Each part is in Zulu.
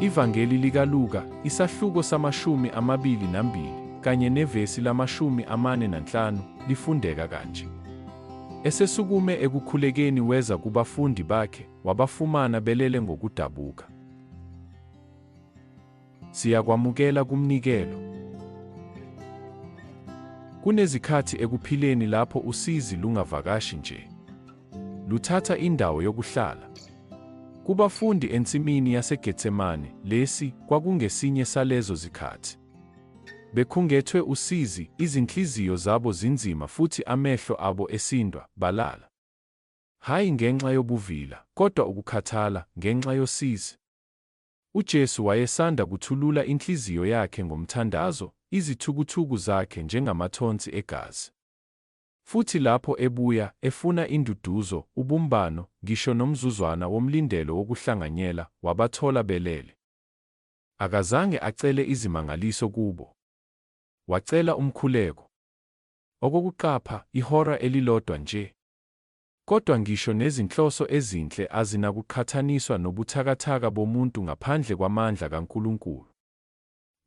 Ivangeli likaLuka, isahluko samashumi amabili nambili, kanye nevesi lamashumi amane nanhlanu, lifundeka kanje. Esesukume ekukhulekeni weza kubafundi bakhe, wabafumana belele ngokudabuka. Siyakwamukela kumnikelo. Kunezikhathi ekuphileni lapho usizi lungavakashi nje. Luthatha indawo yokuhlala. Kubafundi ensimini yaseGetsemane, lesi kwakungesinye salezo zikhathi. Bekhungethwe usizi, izinhliziyo zabo zinzima futhi amehlo abo esindwa, balala. Hhayi ngenxa yobuvila, kodwa ukukhathala, ngenxa yosizi. UJesu wayesanda kuthulula inhliziyo yakhe ngomthandazo, izithukuthuku zakhe njengamathonsi egazi. Futhi lapho ebuya, efuna induduzo, ubumbano, ngisho nomzuzwana womlindelo wokuhlanganyela, wabathola belele. Akazange acele izimangaliso kubo. Wacela umkhuleko. Okokuqapha, ihora elilodwa nje. Kodwa ngisho nezinhloso ezinhle azinakuqhathaniswa nobuthakathaka bomuntu ngaphandle kwamandla kaNkulunkulu.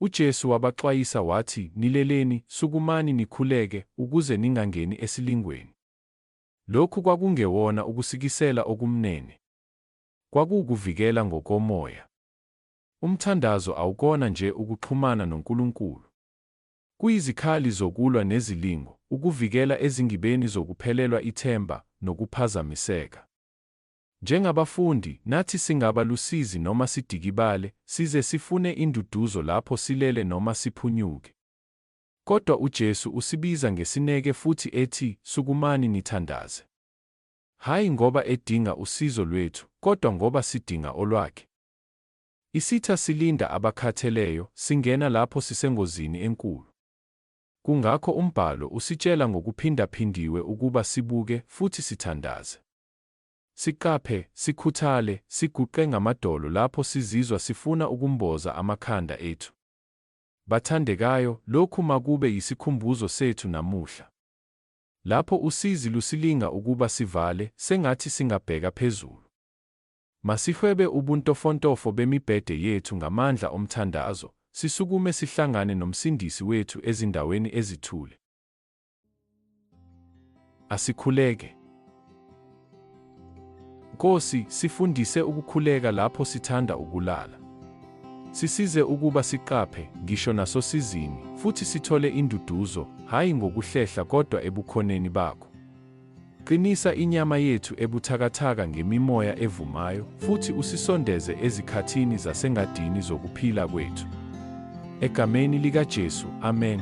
UJesu wabaxwayisa wathi, Nileleni, sukumani nikhuleke, ukuze ningangeni esilingweni. Lokhu kwakungewona ukusikisela okumnene. Kwakuwukuvikela ngokomoya. Umthandazo awukona nje ukuxhumana noNkulunkulu. Kuyizikhali zokulwa nezilingo, ukuvikela ezingibeni zokuphelelwa ithemba nokuphazamiseka. Njengabafundi, nathi singaba lusizi noma sidikibale, size sifune induduzo lapho silele noma siphunyuke. Kodwa uJesu usibiza ngesineke futhi ethi, Sukumani nithandaze. Hhayi ngoba edinga usizo lwethu, kodwa ngoba sidinga olwakhe. Isitha silinda abakhatheleyo, singena lapho sisengozini enkulu. Kungakho umbhalo usitshela ngokuphindaphindiwe ukuba sibuke futhi sithandaze. Siqaphe, sikhuthale, siguqe ngamadolo lapho sizizwa sifuna ukumboza amakhanda ethu. Bathandekayo, lokhu makube yisikhumbuzo sethu namuhla. Lapho usizi lusilinga ukuba sivale, sengathi singabheka phezulu. Masihwebe ubuntofontofo bemibhede yethu ngamandla omthandazo, sisukume sihlangane noMsindisi wethu ezindaweni ezithule. Asikhuleke. Nkosi, sifundise ukukhuleka lapho sithanda ukulala. Sisize ukuba siqaphe, ngisho nasosizini, futhi sithole induduzo, hhayi ngokuhlehla kodwa eBukhoneni baKho. Qinisa inyama yethu ebuthakathaka ngemimoya evumayo futhi usisondeze ezikhathini zasengadini zokuphila kwethu. Egameni likaJesu, amen.